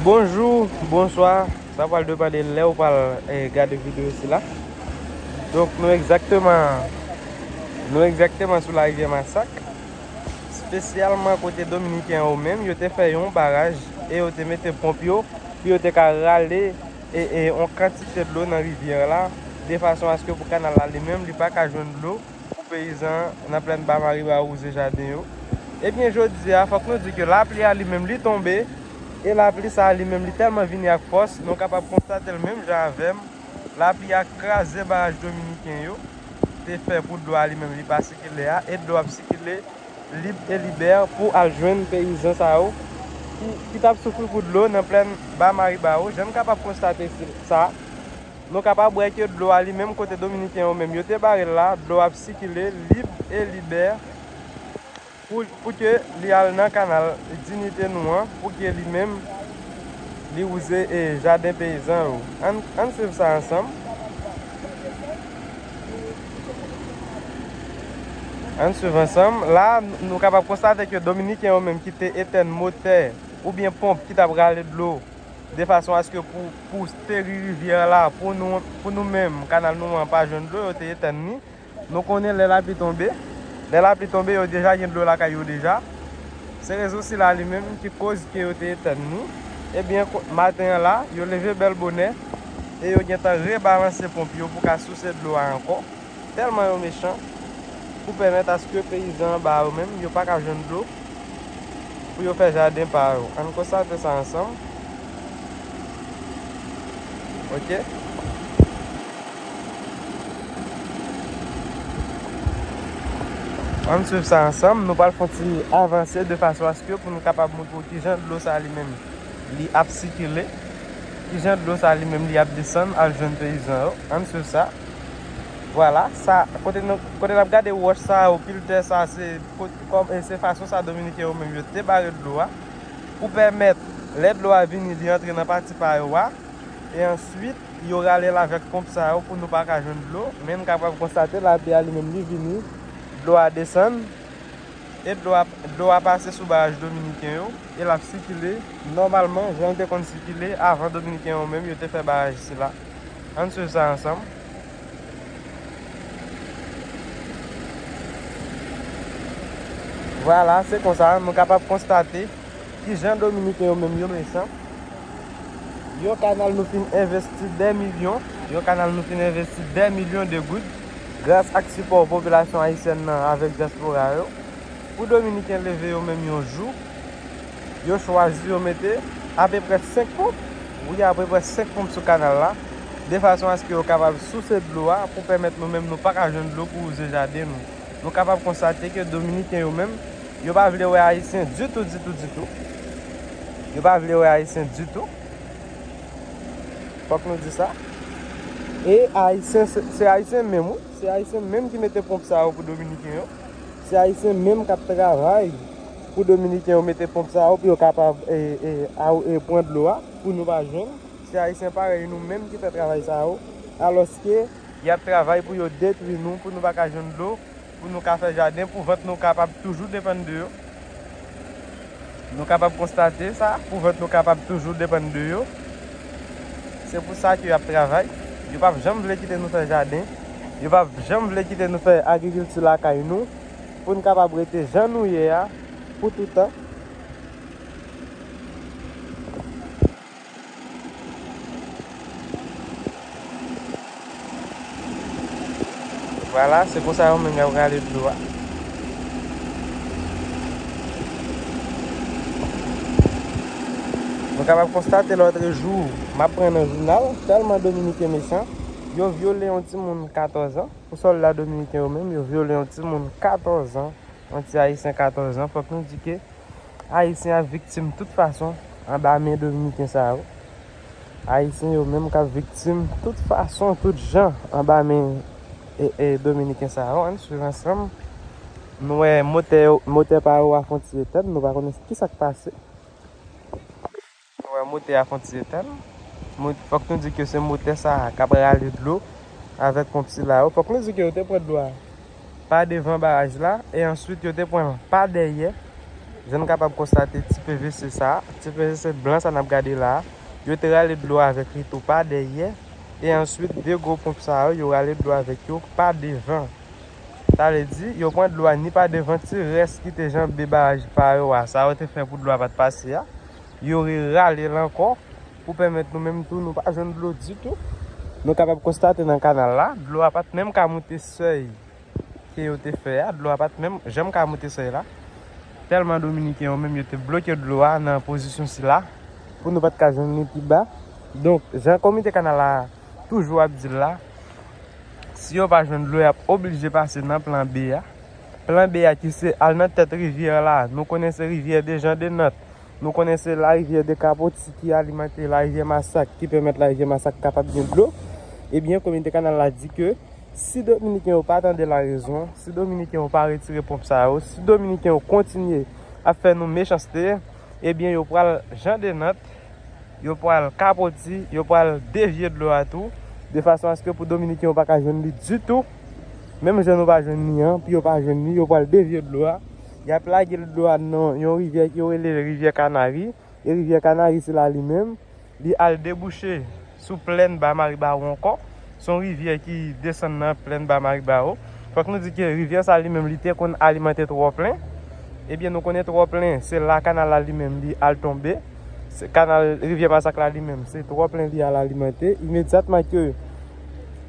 Bonjou, bonswa, sa pral depande lè ou pral gade videyo sila. Donk nou egzakteman, nou egzakteman sou la rivyè Masak. Spesyalman kote Dominiken yo menm, yo te fè yon baraj e yo te mete ponp yo. Pou yo te ka rale e yon kantite dlo nan rivyè la. De fason aske pou kanal la li menm, li pa ka jwenn dlo. Pou peyizan nan plèn Ba Mariba awouze jaden yo. Ebyen jodi a fòk nou di ke lapli a li menm li tonbe e lapli sa li menm li tèlman vini ak fòs nou kapab konstate l menm jan avè m lapli a kraze baraj dominiken yo te fè pou dlo a li menm li pa sikile a e dlo ap sikile lib e libè pou al jwenn peyizan sa yo ki tap soufri pou dlo nan plèn Ba Mariba yo jan n kapab konstate sa. Nou kapab wè ke dlo a li menm kote Dominiken yo menm yo te bare l la, dlo a ap sikile lib e libè pou ke li al nan kanal dinite nou an pou ke li menm li wouze jaden peyizan yo. Ann swiv sa ansanm. Ann swiv ansanm. La a nou kapab konstate ke Dominiken yo menm ki te etèn motè oubyen ponp ki t ap rale dlo de fason aske pou steri rivyè a la pou nou menm kanal nou an pa jwenn dlo yo te etann ni nou konnen lè lapli tonbe lè lapli tonbe yo deja gen dlo lakay yo deja se rezon sila li menm ki koz ke yo te etann ni ebyen maten an la yo leve bèl bonè e yo gentan rebalanse ponp yo pou ka souse dlo a ankò. Tèlman yo mechan pou pèmèt aske peyizan anba a yo menm yo pa ka jwenn dlo pou yo fè jaden pa yo. Ann konstate sa ansanm ok. Ann swiv sa ansanm nou pral fon ti avanse de fason aske pou nou kapab montre w kijan dlo sa li menm li ap sikile, kijan dlo sa li menm li ap desann al jwenn peyizan yo. Ann swiv sa. Vwala sa kote nou kote nap gade wòch sa yo pil tè sa se kòm e se fason sa dominiken yo menm yo te bare dlo a pou pèmèt lè dlo a vini li antre nan pati pa yo a e answit yo rale l avèk ponp sa yo pou nou pa ka jwenn dlo men n kapab konstate lapli a li menm li vini dlo a desann e dlo a dlo a pase sou baraj dominiken yo e lap sikile nòmalman jan l te konn sikile avan dominiken yo menm yo te fè baraj sila. Ann swiv sa ansanm. Vwala, se konsa nou kapab konstate ki jan Dominiken yo menm yo mechan. Yon kanal nou fin envesti dè milyon, yon kanal nou fin envesti dè milyon de goud, gras ak sipò popilasyon ayisyèn nan avèk dyaspora yo, pou Dominiken leve yo menm yon jou, Yo chwazi yo mete apeprè 5 ponp, wi apeprè 5 ponp sou kanal la, de fason aske yo kapab souse dlo a pou pèmèt nou menm nou pa ka jwenn dlo pou wouze jaden nou. Nou kapab konstate ke Dominiken yo menm, yo pa vle wè Ayisyen ditou, ditou, ditou. Yo pa vle wè Ayisyen ditou. Fòk nou di sa. E Ayisyen, se Ayisyen menm wi, se Ayisyen menm ki mete ponp sa yo pou Dominiken yo. Se Ayisyen menm kap travay Pou dominiken yo mete ponp sa yo pou yo kapab pwan dlo a pou nou pa jwenn se ayisyen parèy nou menm ki fè travay sa yo alòske yap travay pou yo detwi nou pou nou pa ka jwenn dlo pou nou ka fè jaden pou vant nou kapab toujou depann de yo nou kapab konstate sa pou vant nou kapab toujou depann de yo se pou sa ke yap travay yo pap janm vle kite nou fè jaden yo pap janm vle kite nou fè agrikilti lakay nou Pou n kapab rete jan nou ye a pou toutan. Vwala, se konsa yo menm y ap rale dlo a. Nou kapab konstate lòtre jou, m ap pran nan jounal, tèlman Dominiken mechan, yo vyole yon timoun katòzan. Pou sòlda dominiken yo menm, yo vyole yon timoun 14 an, yon ti ayisyen 14 an. Fòk nou di ke ayisyen ap viktim tout fason anba men dominiken sa yo. Ayisyen yo menm kap viktim tout fason, tout jan anba men dominiken sa yo. Ann swiv ansanm, nou wè motè pa yo a fon ti etèn, nou pa konnen ki sak pase. Nou wè motè a fon ti etèn. Fòk nou di ke se motè sa a kap rale dlo avèk ponp sila yo. Fòk nou di ke yo te pran dlo a pa devan baraj la e answit yo te pran pa dèyè. Jan nou kapab konstate ti pvc sa a, ti pvc blan sa a nap gade la a, yo te rale dlo avèk li tou pa dèyè e answit 2 gwo ponp sa yo, yo rale dlo avèk yo pa devan. Sa vle di, yo pran dlo a ni pa devan ti rès ki te janbe baraj pa yo a, sa yo te fè pou dlo a pat pase a. yo re rale l ankò pou pèmèt nou menm tou nou pa jwenn dlo ditou. Nou kapab konstate nan kanal la, dlo a pat menm ka moute sèy ke yo te fè a, dlo a pat menm janm ka moute sèy la. Tèlman Dominiken yo menm yo te bloke dlo a nan pozisyon sila pou nou pat ka jwenn li pi ba. Donk, jan komite kanal la toujou ap di l la, si yo pa jwenn dlo y ap oblije pase nan plan B a. Plan B a ki se al nan tèt rivyè la, nou konnen se rivyè Dejan Denant Nou konnen se larivyè Dekapoti ki alimante larivyè Masak ki pèmèt larivyè Masak kapab gen dlo. Ebyen, Komite Kanal la di ke si Dominiken yo pa tande larezon, si Dominiken yo pa retire ponp sa yo, si Dominiken yo kontinye ap fè nou mechanste, ebyen yo pral Jan de Nant, yo pral kapoti, yo pral devye dlo a tou, de fason aske pou Dominiken yo pa ka jwenn li ditou, menm jan nou pa jwenn li an, pou yo pa jwenn li, yo pral devye dlo a. Y ap lage l dlo a nan yon rivyè yo rele Rivyè Kanari. E Rivyè Kanari sila li menm, li al debouche sou plèn Ba Maribawo ankò. Se yon rivyè ki desann nan plèn Ba Maribawo. Fòk nou di ke rivyè sa li menm li te konn alimante Twòplen. Ebyen nou konnen Twòplen, se la kanal la li menm li al tonbe. Se kanal Rivyè Masak la li menm, se Twòplen li al alimante. Imedyatman ke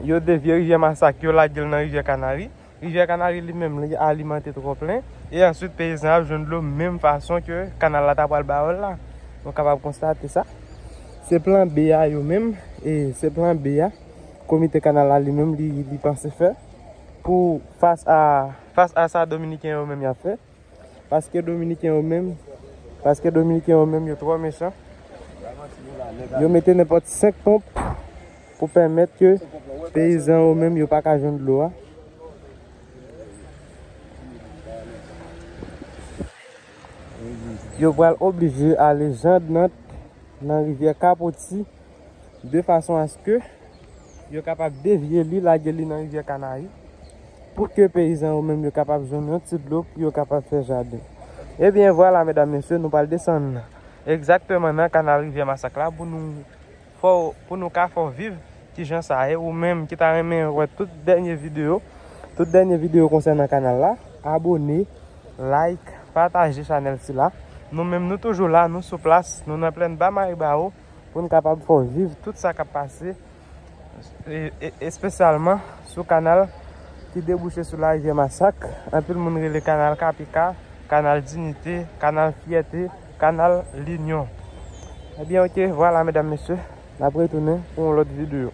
yo devye Rivyè Masak, yo lage l nan Rivyè Kanari. Rivyè Kanari li menm li alimante twò plen. E answit peyizan ap jwenn dlo menm fason ke kanal la ta pwal ba yo l la. Nou kapab konstate sa. Se plan B a yo menm, e se plan B a komite kanal la li menm li panse fè pou fas a sa dominiken yo menm yap fè. Paske dominiken yo menm Paske dominiken yo menm yo trò mechan Yo mete nenpòt 5 ponp Pou pèmèt ke peyizan yo menm yo pa ka jwenn dlo a Yo pral oblije ale jandnant Nan rivyè kapoti de fason aske yo kapab devye li lage li nan rivyè kanari pou ke peyizan yo menm yo kapab jwenn yon ti dlo pou yo kapab fè jaden ebyen vwala medam mesye nou pral desann egzakteman nan kanal rivyè masak la pou nou fè w pou nou ka fè w viv kijan sa ye ou menm ki ta renmen wè tout dènye video tout dènye video konsènan kanal la abone like pataje chanèl sila nou menm nou toujou la nou sou plas nou nan plèn ba maribawo. pou n kapab fè w viv tout sa k ap pase, espesyalman sou kanal ki debouche sou larivyè Masak, anpil moun rele kanal Kapika, kanal Dinite, kanal Fyète, kanal Linyon. Ebyen ok, vwala medam mesye, n ap retounen pou yon lòt videyo.